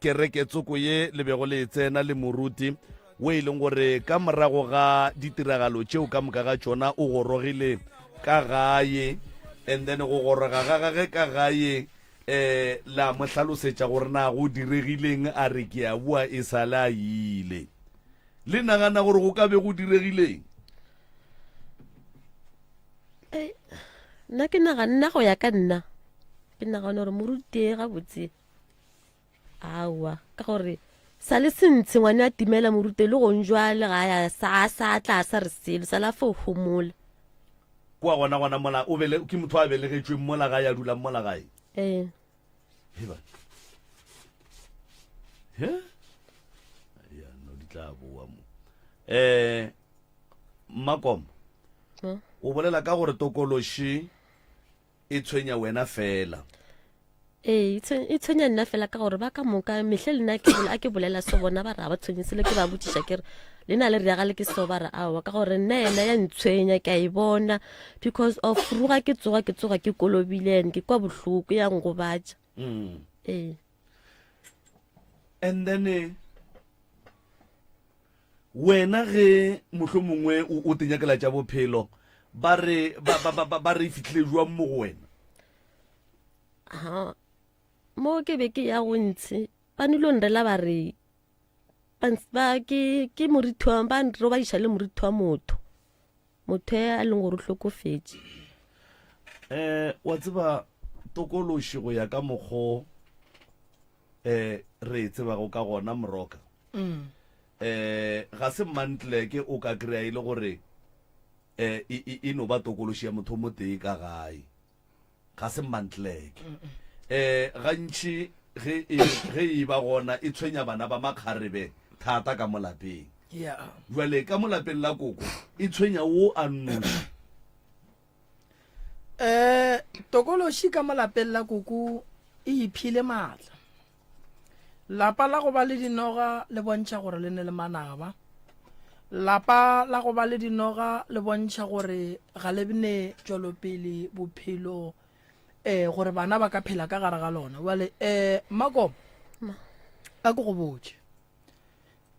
kereke tsoko ye le bego le e tsena le moruti wo e leng gore ka morago ga ditiragalo tšeo ka moka ga tšona o gorogile ka gae and then go goroga ga gage ka gae eh la mo hlalosetša gore na go diregileng a re ke a bua e sa le a ile le nagana gore go ka be go diregileng Ei, nna ke naga nna go ya ka nna ke nagana gore moruti e gabotse aowa ka gore sa le sentshe ngwane a timela morute le gong jwale ga ya sa a sa tla a sa re selo sa la fo homola kwa gona gona mola o bele ke motho a belegetšweng mola ga ya dulang mola gae ee Heba. He? Ya, no di tla boa mo. Eh, Makom, Mo? o bolela ka gore tokološi e tshwenya wena fela ee e tshwenya nna fela ka gore ba ka moka mehle le nna a ke bolela so bona ba re ga ba tshwenye selo ke ba botšiša ke re le na le re yagale ke so ba re aowa ka gore nna ena ya ntshwenya ke a e bona because of ruga ke tsoga ke tsoga ke kolobile and ke kwa bohloko ya ngobatša mm. ee and then eh, Wena ge mohlomongwe o, o te nyakela tša bophelo, ba re, ba, ba, ba, ba, ba re e fihlile jwang mo go wena? Ha, mo ke be ke ya go ntshi, ba nilo nrela ba re, ba, ns- ba ke, ke morithi wa, ba nrobadiša le morithi wa motho. motho e a leng gore o hlokofetše eh wa tseba tokološi go ya ka mokgo eh re e tsebago ka gona moroka mm. eh ga se mantle ke o ka kry-a e le gore eh e, e, e no ba tokološi ya motho mo tee ka gae ga se mmantleke um gantši ge e, ge e ba gona e tshwenya bana ba makgarebe thata ka mo lapeng bjale ka mo lapeng la koko e tshwenya wo a nnoši um tokološi ka mo lapeng la koko e iphile maatla Lapa la go ba le dinoga le bontšha gore le ne le manaba. Lapa la go ba le dinoga le bontšha gore ga le bne tšwelopele bophelo um gore bana ba ka phela ka gare ga lona bale um eh, makomo a ko go botse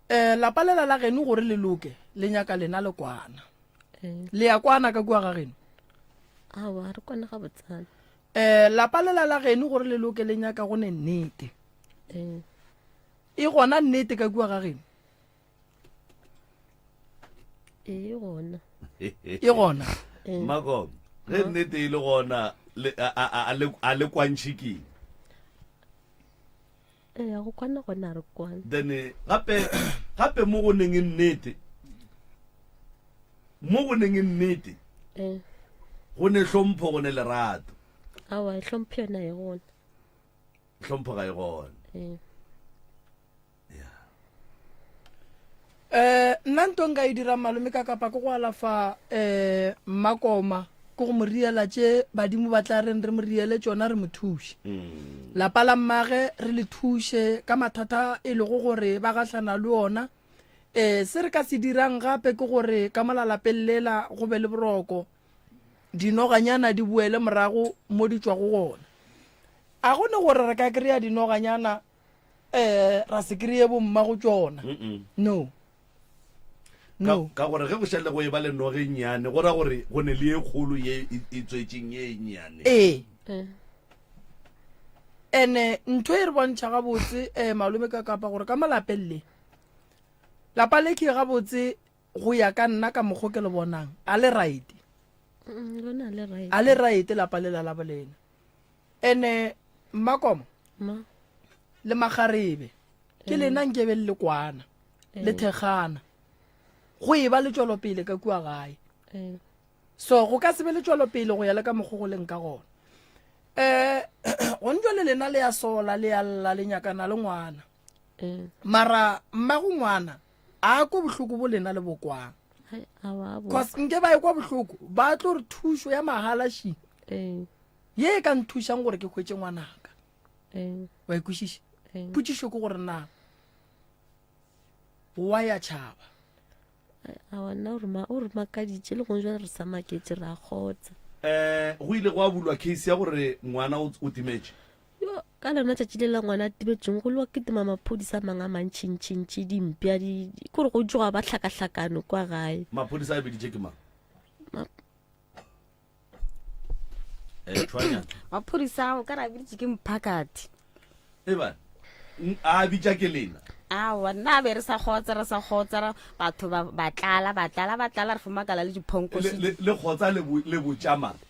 um eh, lapa lela la geno gore le loke le nyaka lena le kwana eh. le ya kwana ka kua ga geno Eh, lapa le la la geno gore le loke le nyaka go ne nnete eh. e gona nnete ka kua ga geno e gona e gona eh. makom ge nnete e le gona a le kwantšhikeng Eya, go kwana gone a re kwane. Then gape, gape mo go neng e nnete, mo go neng e nnete, Eh, go ne hlompho, go ne lerato. awa, e hlompho yona e gona. Hlompho ga e gone. Eh, eh nna nto nka e dirang malome ka kapa ke go alafa eh makoma ke go mo riela tše badimo ba tla reng re mo riele tšona re mo thuše mm. lapa la mmage re le thuše ka mathata e lego gore ba gahlana le ona um eh, se re ka se dirang gape ke gore ka molalapeng lela go be le boroko dinoganyana di boele morago mo di tswa go gona a go ne gore re ka kry-a dinoganyana um ra se kry-e bomma go tšona no no ka gore ge go šale go e ba le noge e nnyane go ra gore go ne le e kgolo ye e tswetseng ye e nnyane ee ene ntho e re bontšha gabotse um malome ka kapa gore ka malapeng le lapa le ke gabotse go ya ka nna ka mokgo ke le bonang a le right a le right lapa le la labo lena ene mmakomo le magarebe ke lena nkebe le le kwana le thekgana go e ba le tšwelopele ka kua gae so go ka se be le tšwelopele go ya le ka mokgo go leng ka gona um gone jwa le lena le ya sola le ya lla le nyakana le ngwana mara mmago ngwana a kwa bohloko bo lena le bokwang cause nke ba e kwa bohloko ba tlo re thušo ya magalašing ye e ka nthušang gore ke hwetse ngwanaka wa ikwešiša potšišo ke gore na wa ya tšhaba awana o re makaditše le gong jale re sa maketse ra kgotsa um go ile go a bulwa case ya gore ngwana o timetše yo ka lona tšatši le la ngwana a tibetšweng go lewa ketima maphodisa a mangwe a mantšhintšhintšhi dimpša kore go tsoga ba hlakahlakano kwa gae maphodisa a biditše ke mang eh, maphodisa ao ka re a biditše ke mphakati eba a bitša ke lena awa nna a be re sa kgotsa re sa kgotsa batho ba tlala ba tlala ba tlala re fomakala le diphonko le kgotsa le botšamang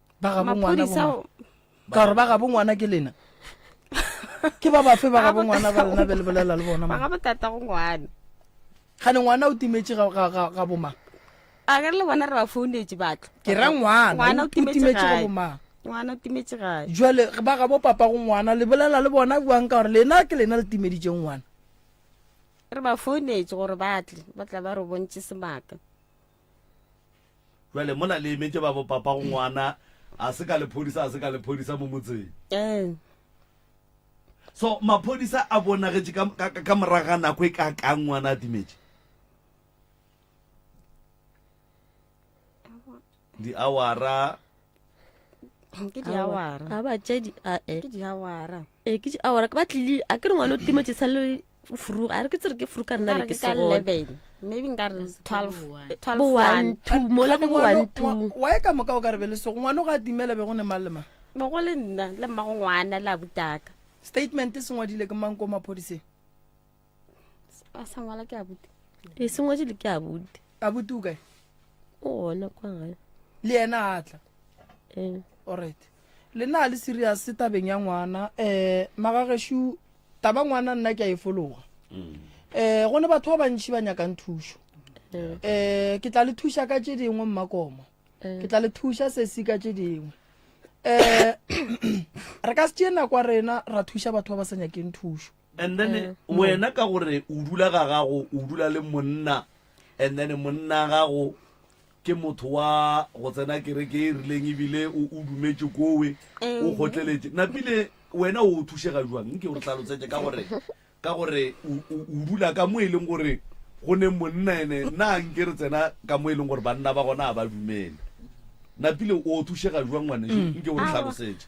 ba gabo ngwana maphodisa bo- o- ka gore ba gabo ngwana ke lena ke ba bafe ba gabo ngwana ba lena be le bolela le bona ba ga mang? botata go ngwana gane ngwana o timetše ga- ga- ga ga bomang a re le bona re ba founetse batlo ke ra ngwana ngwana o o timetše timetše ga gae bomang ngwana o timetše gae jale ba gabo papa go ngwana le bolela le bona buang ka gore lena ke lena le timeditseng ngwana re ba founetse gore ba tle ba tla ba re bontšhe sebaka Bjale mola le emetše babo papa go ngwana a se ka lephodisa a se ka lephodisa mo motseng. Eh. So maphodisa a bonagetše ka ka ka moraga nako e ka ka ngwana a timetše. Di awara. Ke di awara. Aba tšedi a eh. Ke di awara. e ke a ora ke batlile a ke re ngwana o timo tse sa le furu a re ke tsere ke furu ka nna le ke se go maybe nka re 12 12 one two mo la ke one two wa e ka moka o ka re be le se go ngwana ga timela be go ne malema be go le nna le mma go ngwana la butaka statement se ngwadile ke mang ko maphodiseng a sa ngwala ke abuti e sengwetse le ke abuti abuti o kae o ona kwa gae le ena a tla ee alright le na le serious tabeng ya ngwana um magageshu taba ngwana nna ke a e fologa um go ne batho ba bantšhi ba nyakang thušo um ke tla le thuša ka tše dingwe mmakoma ke tla le thuša sesi ka tše dingwe um re ka se tšee nako rena ra thuša batho ba ba sa nyakeng thušo and then Eh, mo. wena ka gore o dula ga gago o dula le monna and then monna gago ke motho wa go tsena kereke e rileng ebile o o dumetse kowe o gotleletse napile wena o thušega jwang nke o re tlhalotsetse ka gore ka gore o o- o dula ka mo e leng gore go ne monna ene nna nke re tsena ka mo e leng gore banna ba gona ga ba dumele napile o thušega jwang ngwane nke o re Aowa. tlhalosetse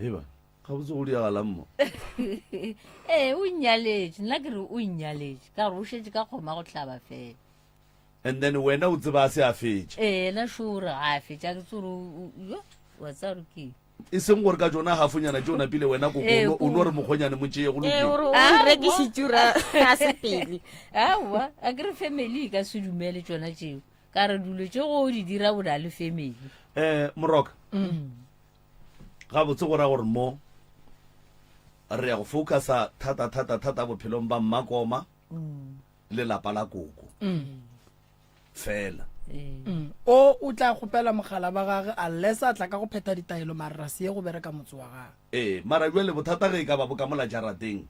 eba ga botse go diagalang mo ee o nnyaletse nna ke re o nnyaletse ka gore o šetse ka kgoma go tlhaba fela and then wena o tseba a se a fetše ee ena sure ga a fetša ke tsore yo wa tsa gore ke e seng gore ka tsona gafonyana tse o napile wena koko Ee, o no re mokgonyane mo tšeye go ee lokile gore o Ah, wa. rekisitsura a se pele aowa a ke re family e ka se dumele tsona tseo ka re dilo tše go di dira o na le family um moroka gabotse go ra gore mo re ya go focusa thata thata thata bophelong ba mmakoma le lapa la koko fela Mm. o o tla kgopela mogala ba gage a lesa tla ka go phetha ditaelo marra se ye go bereka motse wa gage ee mara jwa le bothata ge e ka ba bo ka mola jarateng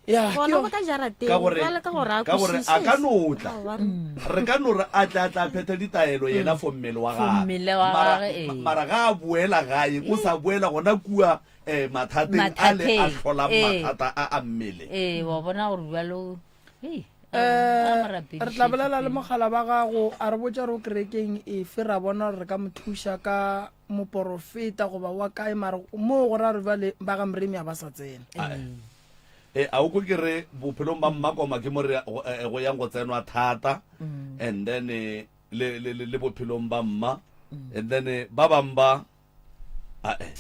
ya ke gona go yo- tla jarateng ka gore jwale ka gore a ka gore a ka no tla kwešiše re ka no re a tle a tla phetha ditaelo yena for mmele wa For mmele wa Mara- gagwe, ee. mara ga a boela gae o sa boela gona kua um mathateng a le a Mathateng, hlolang ee. mathata a a mmele ee wa bona gore bjalo hei, a- a um mo rapedišetše re tla bolela le pele. mogala ba gago a re botša re o kerekeng efe ra bona gore re ka mo thuša ka moporofeta goba wa kae mara moo go ra re bale ba ga mremi a ba sa tsena e a o ko ke re bophelong ba mmakoma ke mo re go yang go tsenwa thata mm. and then le le le bophelong ba mma mm. and then ba bang ba a e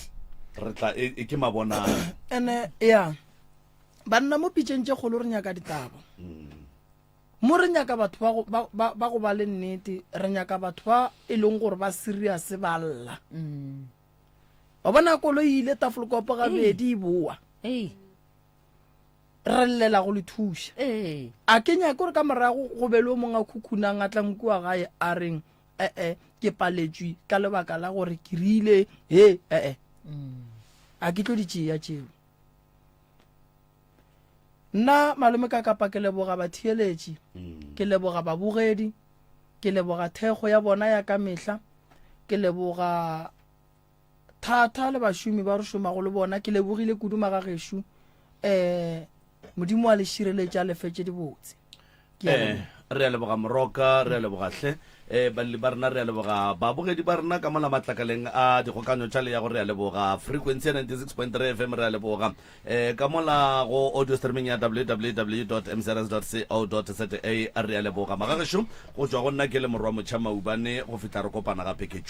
re tla e, e ke mabona ene ya banna mo pitšeng tše kgolo re nyaka ditaba mm. Mo re nyaka batho ba go, ba, ba, ba go ba le nnete, re nyaka batho ba e leng gore ba serious ba lla. Mm. Wa bona kolo e ile tafolokopo gabedi e boa. Hey. re llela go le thuša ee. a ke nyake gore ka morago go be le o mongwe a khukhunang a tlang kua gae a reng ee ke paletswe ka lebaka la gore ke rile he ee mm. a ke tlo di tšea tšeo Nna Malome Kakapa ke leboga batheeletši, mm. ke leboga babogedi, ke leboga thekgo ya bona ya ka mehla, ke leboga thata le bašomi ba re šomago le bona, ke lebogile kudu magagešu, um Modimo wa le šireletša lefetše dibotse. eh re a leboga moroka re a leboga hle um eh, baleli ba rena re a leboga babogedi ba rena ka mola matlakaleng a dikgokanyo tša leyago re a leboga frequency ya 96.3 fm re a leboga um ka mola go audio streaming ya www mcrs co za re a leboga magagešo go tšwa go nna ke le morwa motšha maubane go fihla re kopana gape ke